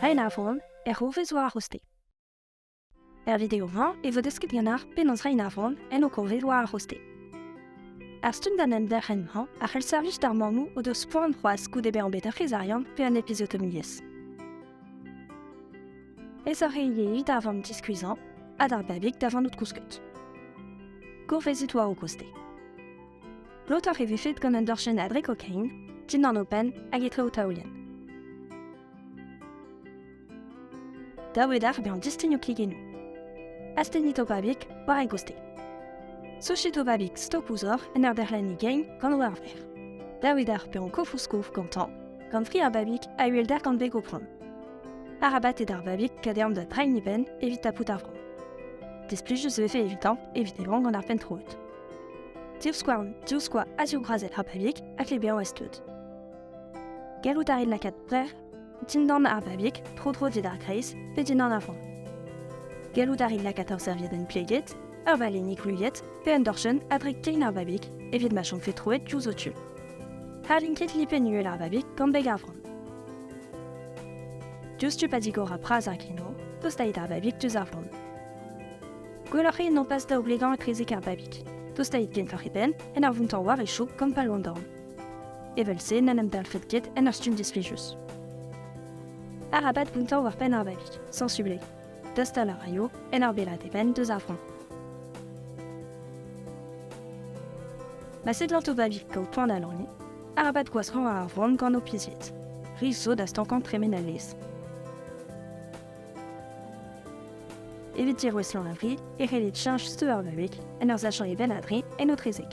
Hi Navon, erruv eus war hoste. Er video-mañ e vo desket ganar penaos reiñ Navon en ho kovet war ar hoste. Ar stumm d'an enderc'hen-mañ a c'hell servij d'ar mammoù o deus poan c'hoazh goude bezañ bet ur c'hezarian pe un episiotomiezh. Aesoc'h eo ivez da vamm diskuizhañ ha d'ar babig da vanout kousket. Gourvezit war ho koste. Lotoc'h e vefed gant un dorchenn dre kokain, dindan o penn hag etre o taolienn. Dav eo d'ar bezañ distignoù kigennoù. Astennit ho babig war e goustez. Sochit ho babig stok ouzh hoc'h en ur derc'hlenniñ gein gant o arver. Dav eo d'ar pezañ kof ouzh kof gantañ, gant fri ar babig a uhelder gant beg o prom. Arabat eo d'ar babig kadeañ da drein e benn evit tapout ar vro. Displijus e vefe evitañ evit e vran gant ar penn troet. Divskouarn, divskoa ha zivbrazet ha pabig a klebeañ ez-tud. Gallout a rit lakaat brec'h dindan ar babig, tro-dro d'ar greiz pe dindan ar vran. Gallout a rit lakaat ur serviedenn pleget, ur valennig gouliet pe un dorchenn a-drek kein ar babig evit ma chomfe troet diouzh ho tud. Harlin ket lipenn uhel ar babig gant beg ar vran. Diouzhtu pa digor ar praz ar gino, tostait ar babig diouzh ar vran. Gwelloc'h eo nopas da oblegañ etrezek ar babig. Tostait genfoc'h e benn en ur vountañ war e chaok gant pal an dorn. Evel-se n'en em dalfet ket en ur stumm disflijus. Arabat vountañ war penn ar babig, sensublet. Dostal a raio en ur bellaat e benn deus ar vran. Ma seblant o babig kaout poan da lorgniñ, arabat gwashañ ar vran gant ho pizied. Ris zo da stankañ tremen al lez. Evit dirouestlañ a vri e c'hellit cheñch steu ar babig en ur sachañ e benn a-dri en autrezeg.